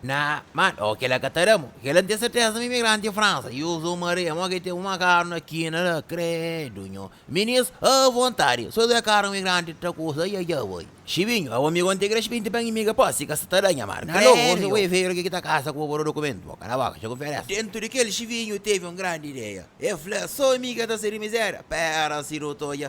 Na Mad oh kela ka ta da mo kela nte serteza ma imigranti Fransa i usa un maria mo ke temo ma karu na kina la kredo nho minis a vontadi so da karu imigranti ta kusa ai ai avoi xibinho abo mi konte kres pinti pa inimiga po si ka sa ta da nha mar na lobo se oi vei regi ki ta kasa ku obodo dokumento bo kala boka xego nferes. Dentu di kel xibinho tevi un grandi ideia e fla so mi ka ta seri mizeria pera si nu ta odja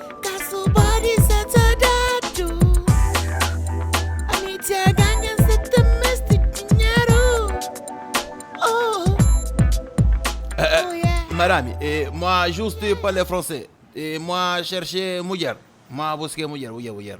Madami, eh, moi juste parle français. Eh, moi cherche mulher. Moi busque mulher, mulher, mulher.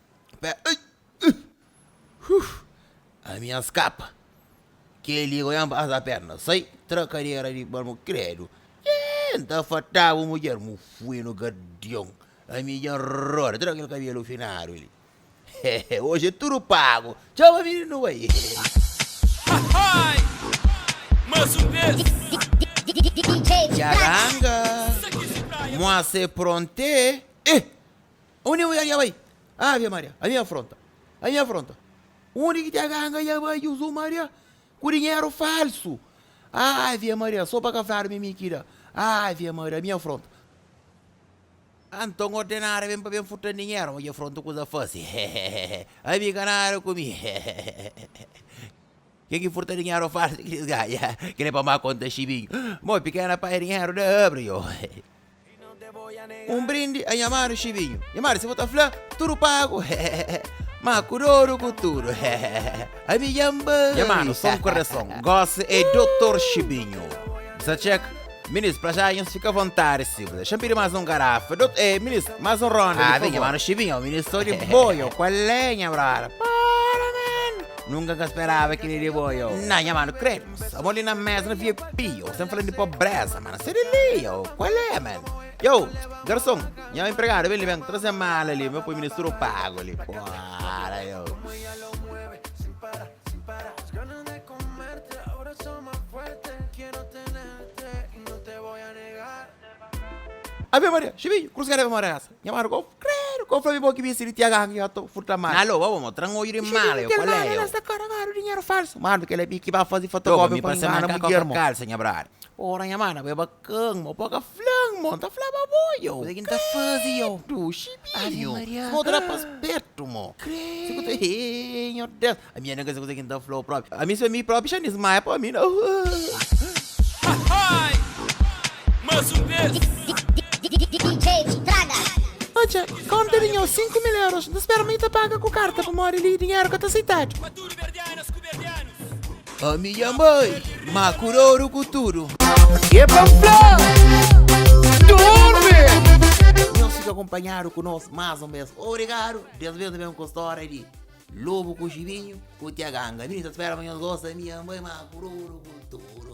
Pé ai uh uh ami a skapa keli oiá n pasa perna sai tra kadera di balmu kredu eh n ta fata bu mudjer mu fui no gardion ami dja n roda tra kel kabelu finadu li hehe oji é tudu pagu txau ami di nu bai Hahaii Mas um vez Dja ganga Moi se pronte eh. Undi un anga bai? Ave Maria, ami afronta, ami afronta. Undi ki txega anga dja bai Juzu Maria ku dinheru falsu. Ave Maria, so pa ka fladu mi mi ki da. Ave Maria, ami afronta. Anton ordenara ben pa ben furta-m dinheru, ma dja frontu kuza fasi. Ami ka nada ku mi. Ke ki furta dinheru falsu ki elis ganha, kel li pa ma konta xibinhu. Mô pikena pai dinheru da abri yo. Un brindi a nha manu xibinhu. Nha manu si bo ta fla tudu pagu ma ku dodu ku tudu ami djan bai. Nha manu son korason gosi ei dotor xibinhu. Bsa txeka. Minis, pra já nhos fica à vontade si bla. Xa pidi más um garrafa. Dot, eh, minis, más um ronda, Ah, di vem, favor. mano, chivinho, minis, sou de boio. Qual é, nha brother? Para, man. Nunca ka esperava que nem de boio. Não, nha mano, cremos. Amor ali na mesa, na VIP, yo. Sem falando de pobreza, mano. Sai dali, yo. Qual é, man? Yo, garçom, minha empregada, vem ali, vem, trazer mala ali, meu põe ministro pago ali. Para, yo. Ave Maria, xebiñu, krus ka debe mora kasa. Nha mara, Kau, kredu, kau fla-mi bo ki bisti di tiaga ki ka ta furta mara. Alô, baba, mo tra-m odju di mala, yo, kual é yo? Dinheru falsu, mano, kel-la bi ki ba fazi fotokópia pa ngana mudjer-mo. Ora, nha mara, bo é ba. Ken, mo bo ka fla-m, mo, N ta fla pa bo, yo. Kuza ki N ta faze, yo. Kredu, xibi, Ave yo. Mariâ, Si bo ta da pas ah. pertu, mo, Si bu ta, kredu. hee, nho Deus, ami N ka sa kuza ki N ta fla-u propi, ami sô mi propi xa N dismaia pa mi, no, uh, uh. Odja, kónta di nho sinku mil euros, N ta spera ma i ta paga ku karta pamodi li i dinheru ka ta seitadu. Ami nha mãe, ma ku roru ku tudu. E pa N fla, durmi! Nhos fika akonpanhadu ku nos mas un bes. Obrigadu! Des bes nu ben ku stória di Lobu ku Xibinhu ku Tia Ganga. Mi ta spera ma nhos gosta. Ami nha mãe, ma ku roru ku tudu.